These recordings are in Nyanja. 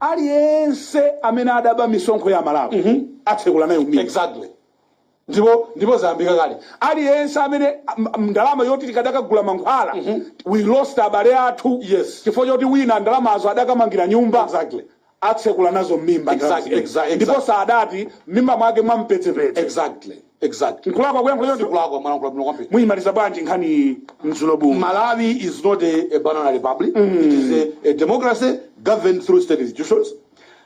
aliyense amene adaba misonkho ya malawi atsekula nayo m'mimba exactly Ndipo, ndipo zayambika kale. Aliyense amene, a, a, ndalama yoti tikadakagula mankhwala, we lost abale athu Yes. chifukwa choti wina ndalamazo adakamangira nyumba. Exactly. atsekula nazo m'mimba ndalama Exactly, zimene. exactly, ndipo exactly. sadati m'mimba mwake mwa mpedzepedze Exactly. Exactly. nkulakwa kuyankhula choncho Sikulakwa mwayankhula bwino kwambiri. muyimaliza bwanji nkhani Mzulobu Malawi is not a, a banana republic. It is a, a democracy governed through state institutions.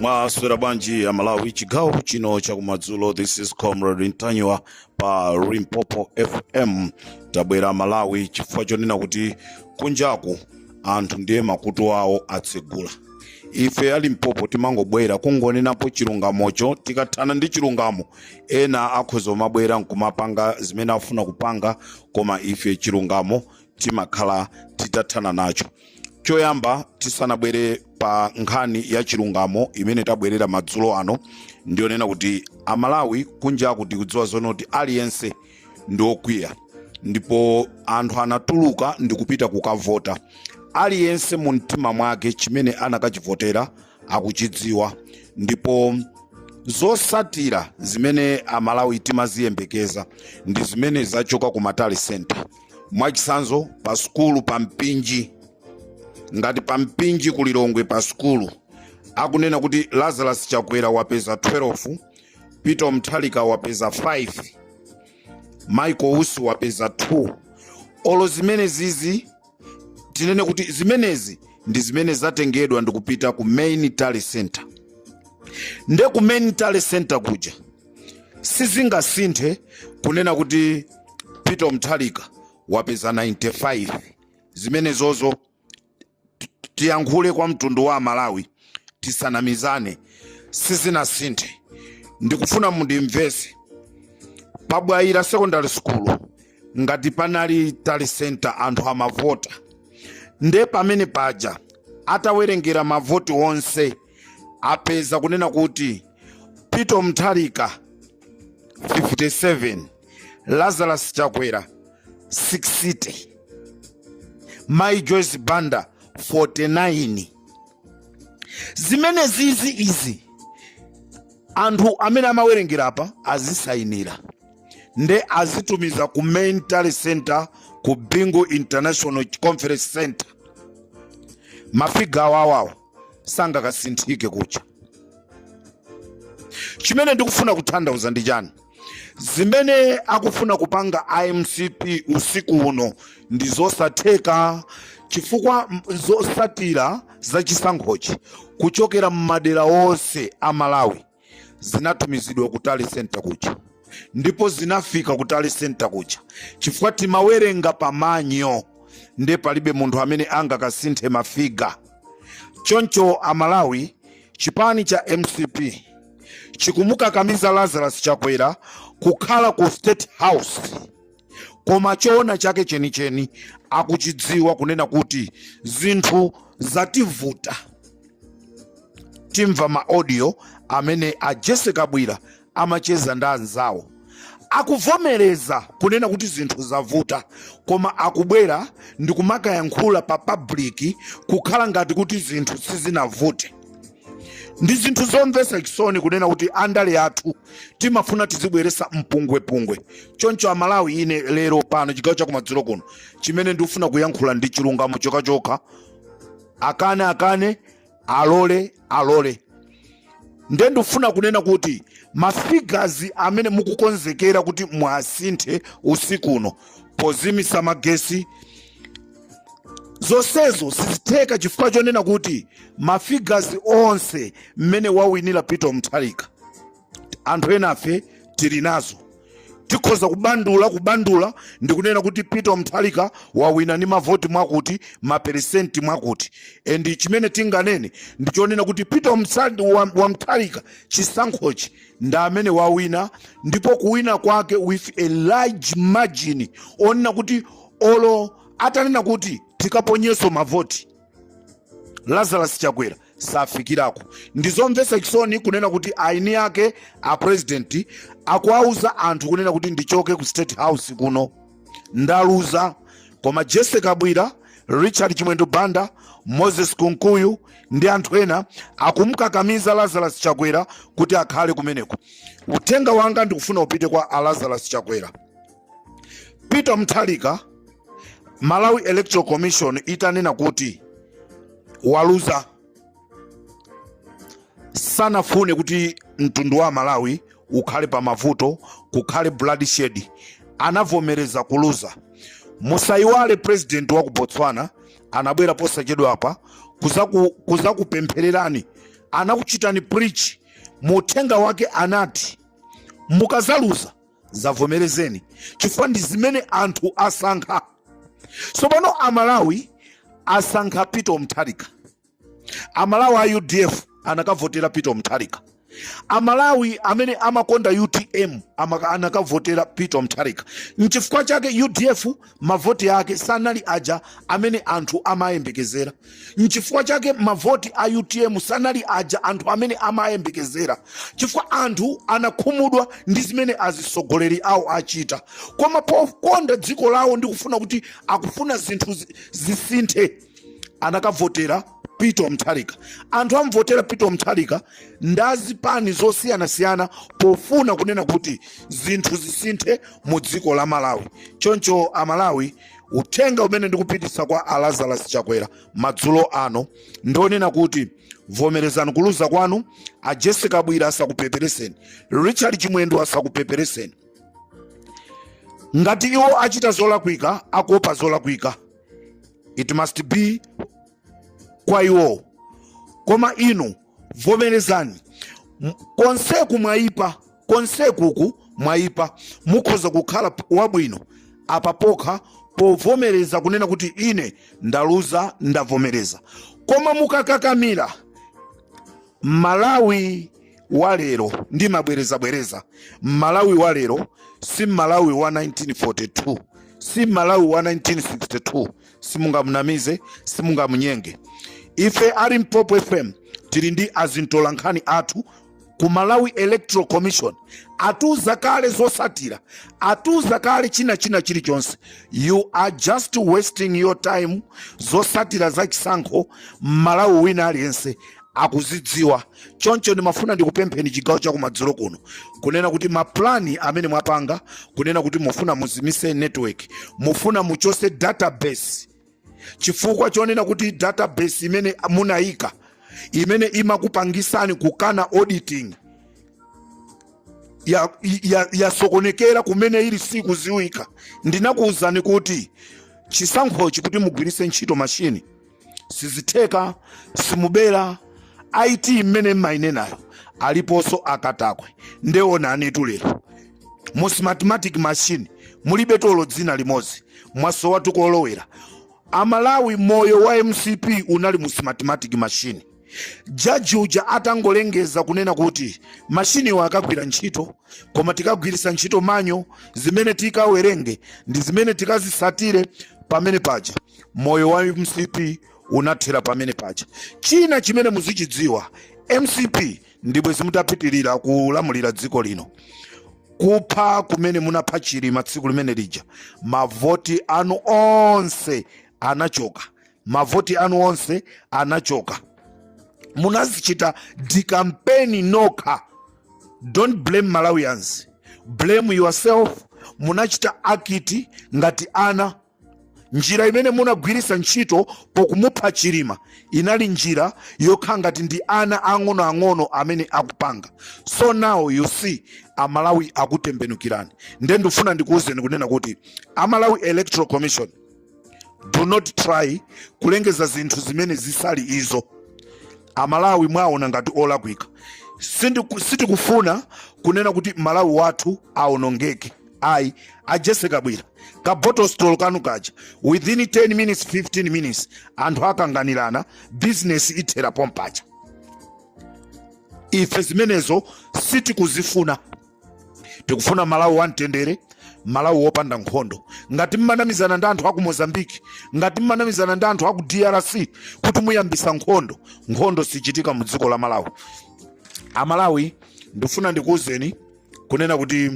mwaswera bwanji a malawi chigawo chino chakumadzulo this is comrade ntanyiwa pa limpopo fm tabwera malawi chifukwa chonena kuti kunjaku anthu ndiye makutu awo atsegula ife a limpopo timangobwera kungonenapo chilungamocho tikathana ndi chilungamo ena akhoza kumabwera nkumapanga zimene afuna kupanga koma ife chilungamo timakhala titathana nacho choyamba tisanabwere pa nkhani ya chilungamo imene tabwerera madzulo ano ndiyonena kuti amalawi kunjaku tikudziwa zoona kuti aliyense ndi okwiya ndipo anthu anatuluka ndi kupita kukavota aliyense mu mtima mwake chimene anakachivotera akuchidziwa ndipo zotsatira zimene amalawi timaziyembekeza ndi zimene zachoka ku ma tally center mwachitsanzo pa sukulu pa mpinji ngati pa mpinji ku lilongwe pa sukulu akunena kuti lazarus chakwera wapeza 12 peter mutharika wapeza 5 michael usi wapeza 2 olo zimene zizi tinene kuti zimenezi ndi zimene zatengedwa ndikupita ku main tally center nde ku main tally center kuja sizingasinthe kunena kuti peter mutharika wapeza 95 zimene zozo ti- tiyankhule kwa mtundu wa amalawi tisanamizane sizinasinthe ndikufuna mundimvetse pa bwaila secondary school ngati panali tally center anthu amavota nde pamene paja atawerengera mavoti onse apeza kunena kuti peter mutharika 57 lazarus chakwera 60 mai joyce banda 49 zimene zizi izi anthu amene amawerengera apa azisayinira nde azitumiza ku main tally center ku bingu international conference center mafiga awawawo sangakasinthike kuja chimene ndikufuna kutanthauza ndi chani zimene akufuna kupanga a mcp usiku uno ndi zosatheka chifukwa m- zosatira za chisankhochi kuchokera m'madera onse a malawi zinatumizidwa ku tally center kuja ndipo zinafika ku tally center kuja chifukwa timawerenga pamanyo nde palibe munthu amene angakasinthe mafiga choncho amalawi chipani cha mcp chikumukakamiza lazarus chakwera kukhala ku state house koma choona chake chenicheni akuchidziwa kunena kuti zinthu zativuta tamva ma audio amene a jesse kabwila amacheza ndi anzawo akuvomereza kunena kuti zinthu zavuta koma akubwera ndi kumakayankhula pa public kukhala ngati kuti zinthu sizinavute ndi zinthu zomvetsa chisoni kunena kuti andale athu timafuna tizibweresa mpungwepungwe choncho amalawi ine lero pano chigawo chakumadzulo kuno chimene ndikufuna kuyankhula ndi chilungamo chokhachokha akane akane alole alole nde ndikufuna kunena kuti mafigazi amene mukukonzekera kuti mwasinthe usiku uno pozimisa magesi zonsezo sizitheka chifukwa chonena kuti mafigazi onse mmene wawinira peter mutharika anthu enafe tili nazo tikhoza kubandula kubandula ndi kunena kuti peter mutharika wawina ndi mavoti mwakuti maperesenti mwakuti endi chimene tinganene ndi chonena kuti peter Mutsa- wa- wa mutharika chisankhochi ndi amene wawina ndipo kuwina kwake with a large margin onena kuti olo atanena kuti tikaponyeso mavoti lazarus chakwera safikirako ndizomvesa chisoni kunena kuti eni ake a president akuwauza anthu kunena kuti ndichoke ku state house kuno ndaluza koma jesse kabwila richard chimwendo banda moses kunkuyu ndi anthu ena akumkakamiza lazarus chakwera kuti akhale kumeneko uthenga wanga ndikufuna upite kwa a lazarus chakwera peter mutharika malawi electoral commission itanena kuti waluza sanafune kuti mtundu wa malawi ukhale pa mavuto kukhale bloodshed anavomereza kuluza musayiwale president wa ku botswana anabwera posachedwa apa kuzaku- kuzakupemphererani anakuchitani preach mu uthenga wake anati mukazaluza zavomerezeni chifukwa ndi zimene anthu asankha tsopano amalawi asankha peter mutharika amalawi a udf anakavotera peter mutharika amalawi amene amakonda utm amaka- anakavotera peter mutharika nchifukwa chake udf mavoti ake sanali aja amene anthu amayembekezera nchifukwa chake mavoti a utm sanali aja anthu amene amayembekezera chifukwa anthu anakhumudwa ndi zimene azisogoleri awo achita koma pokonda dziko lawo ndi kufuna kuti akufuna zinthu zisinthe anakavotera Peter Mutharika. Anthu amvotera Peter Mutharika ndi azipani zosiyanasiyana pofuna kunena kuti zinthu zisinthe mu dziko la Malawi. Choncho Amalawi, uthenga umene ndikupititsa kwa a Lazarus Chakwera madzulo ano ndi onena kuti vomerezani kuluza kwanu, a Jessie Kabwira asakupepereseni, Richard Chimwendo asakupepereseni. Ngati iwo achita zolakwika, akuopa zolakwika. it must be kwa iwowo koma inu vomerezani M- konseku mwayipa konsekuku mwayipa mukhoza kukhala p- wabwino apapokha povomereza kunena kuti ine ndaluza ndavomereza koma mukakakamira mmalawi wa lero ndimabwereza bwereza mmalawi wa lero si mmalawi wa 1942 si mmalawi wa 1962 simungamunamize simungamunyenge ife a limpopo fm tili ndi azintolankhani athu ku malawi electoral commission atiuza kale zosatira atiuza kale china china chilichonse you are just wasting your time zosatira za chisankho mmalawi wina aliyense akuzidziwa. Choncho ndimafuna ndikupempheni chigawo chakumadzulo kuno kunena kuti ma plan amene mwapanga kunena kuti mufuna muzimise network, mufuna muchose database chifukwa chonena kuti database imene munayika imene imakupangisani kukana auditing yasokonekera ya, ya kumene ili sikuziwika. Ndinakuwuzani kuti chisankhochi kuti mugwiritse ntchito mashini sizitheka simubera it imene mmayinenayo aliponso akatakwe nde onanitu lero mu smartmatic machine mulibe olo dzina limodzi mwasowa tu kolowera amalawi moyo wa mcp unali mu smartmatic machine jaji uja atangolengeza kunena kuti mashiniwo akagwira ntchito koma tikagwiritsa ntchito manual zimene tikawerenge ndi zimene tikazisatire pamene paja moyo wa mcp unathera pamene paja china chimene muzichidziwa mcp ndibwe simutapitirira kulamulira dziko lino kupha kumene munapha chilima tsiku limene lija mavoti anu onse anachoka mavoti anu onse anachoka munazichita dikampeni nokha don't blame malawians blame yourself munachita act ngati ana njira imene munagwiritsa ntchito pokumupha chilima inali njira yokhala ngati ndi ana ang'onoang'ono amene akupanga so now you see amalawi akutembenukirani nde ndifuna ndikuwuzeni kunena kuti a malawi electoral commission do not try kulengeza zinthu zimene zisali izo amalawi mwaona ngati olakwika sitikufuna kunena kuti malawi wathu aonongeke ayi a jessie kabwila ka bottle store kanu kaja within 10 minutes 15 minutes anthu akanganirana business ithera pompaja ife zimenezo sitikuzifuna tikufuna malawi wamtendere malawi wopanda nkhondo ngati mmanamizana ndi anthu aku mozambiki ngati mmanamizana ndi anthu aku drc kuti muyambisa nkhondo nkhondo sichitika mu dziko la malawi amalawi ndifuna ndikuwuzeni kunena kuti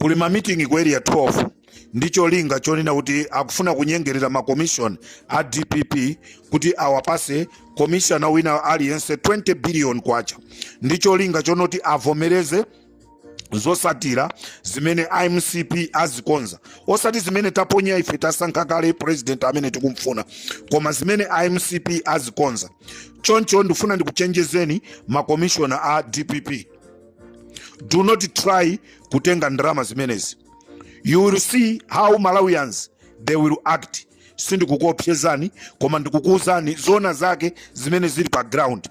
kuli mamitingi ku area 12 ndi cholinga chonena kuti akufuna kunyengerera makomishona a dpp kuti awapase komishona wina aliyense 20 biliyoni kwacha ndi cholinga chonoti avomereze zosatira zimene a mcp azikonza osati zimene taponya ife tasankha kale president amene tikumfuna koma zimene a mcp azikonza choncho ndifuna ndikuchenjezeni makomishona a dpp do not try kutenga ndalama zimenezi you will see how malawians they will act sindikukuopsezani koma ndikukuuzani zona zake zimene zili pa ground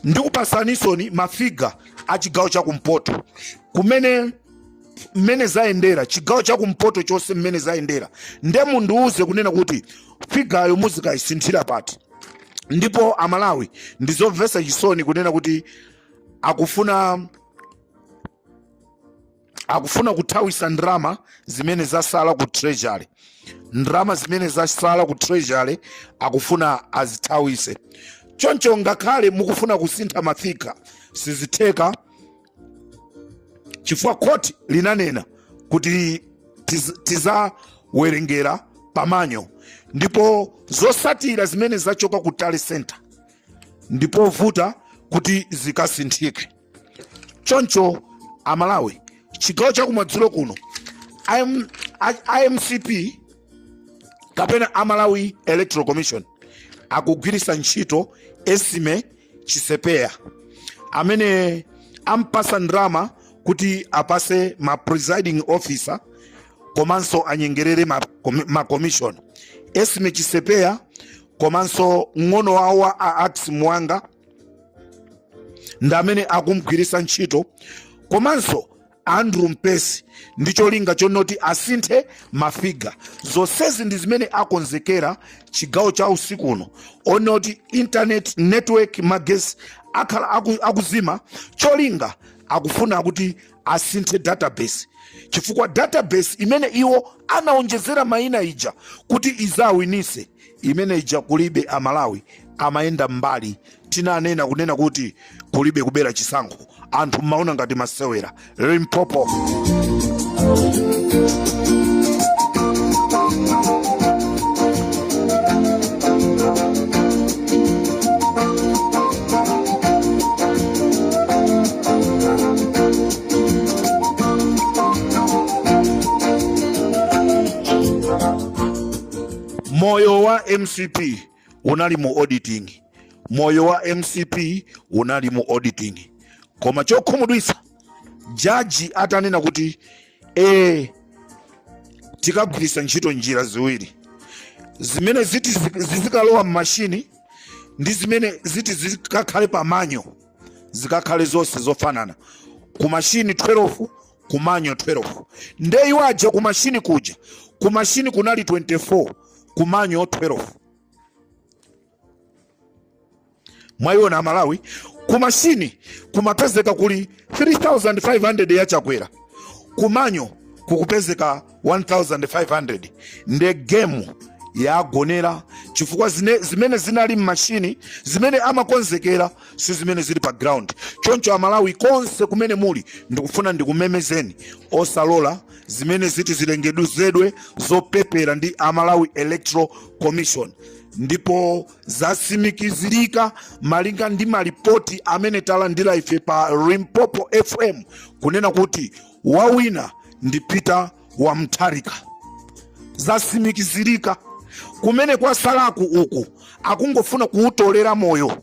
ndikupasanisoni mafiga a chigawo cha kumpoto kumene mmene zayendera chigawo chakumpoto chonse mmene zayendera nde mundiuze kunena kuti figayo muzikayisinthira pati ndipo amalawi ndizomvesa chisoni kunena kuti akufuna akufuna kuthawisa ndalama zimene zasala ku treasury ndalama zimene zasala ku treasury akufuna azithawise choncho ngakhale mukufuna kusintha mafiga sizitheka chifukwa khoti linanena kuti tiz- tizawerengera pamanyo ndipo zosatira zimene zachoka ku tally center ndipovuta kuti zikasinthike choncho amalawi chigawo cha kumadzulo kuno a MCP kapena a malawi electoral commission akugwiritsa ntchito esime chisepeya amene ampasa ndrama kuti apase ma presiding officer komanso anyengerere ma commission esime chisepeya komanso mng'ono wawo wa a ax mwanga ndi amene akumgwiritsa ntchito komanso andrew mpesi ndi cholinga chonena kuti asinthe mafiga zonsezi ndi zimene akonzekera chigawo cha usiku uno onena kuti internet network magesi akhala akuzima cholinga akufuna kuti asinthe database chifukwa database imene iwo anaonjezera mayina ija kuti izawinise imene ija kulibe amalawi amayenda mbali tinanena kunena kuti kulibe kubera chisankho anthu mmaona ngati masewera limpopo moyo wa mcp unali mu auditing moyo wa mcp unali mu auditing koma chokhumudwitsa jaji atanena kuti e, tikagwiritsa ntchito njira ziwiri zimene ziti zizikalowa m'mashini ndi zimene ziti zikakhale pamanyo zikakhale zonse zofanana ku mashini 12 ku manyo 12 nde iwo aja ku mashini kuja ku mashini kunali 24 kumanyo 12 mwayiona amalawi kumashini kumapezeka kuli 3500 ya chakwera kumanyo kukupezeka 1500 nde gemu yagonera chifukwa zimene zinali mmashini zimene amakonzekera si zimene zili pa ground choncho amalawi konse kumene muli ndikufuna ndikumemezeni osalola zimene ziti zilengeduzedwe zopepera ndi a malawi electoral commission ndipo zasimikizirika malinga ndi malipoti amene talandira ife pa limpopo fm kunena kuti wawina ndi peter wa mutharika zasimikizirika kumene kwatsalaku uku akungofuna kuwutolera moyo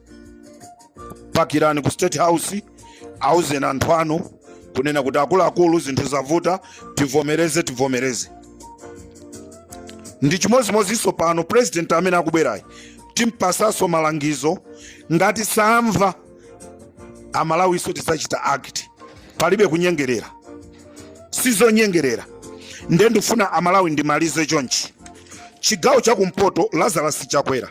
pakirani ku state house auzeni anthu anu kunena kuti akuluakulu zinthu zavuta tivomereze tivomereze ndi chimodzimodzinso pano president amene akubwerayi timpasanso malangizo ngati samva amalawinso tidzachita act palibe kunyengerera sizonyengerera nde ndifuna amalawi ndimalize chonchi chigawo chakumpoto lazarus chakwera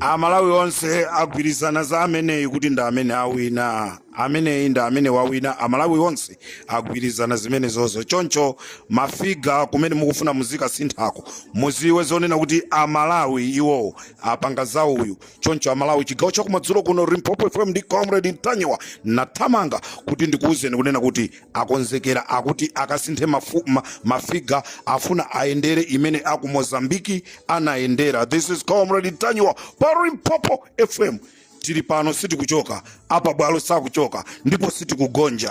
amalawi onse agwirizana za ameneyi kuti ndi amene awina ameneyi ndi amene wawina amalawi onse agwirizana zimenezozo choncho mafiga kumene mukufuna muzikasinthako mudziwe zoona kuti amalawi iwo apanga za uyu choncho amalawi chigawo chakumadzulo kuno limpopo fm ndi comrade ntanyiwa nathamanga kuti ndikuwuzeni kunena kuti Akonzekera akuti akasinthe ma ma ma figure afuna ayendere imene aku Mozambique anayendera this is comrade Ntanyiwa pa Limpopo FM tili pano sitikuchoka apa bwalo sakuchoka ndipo sitikugonja.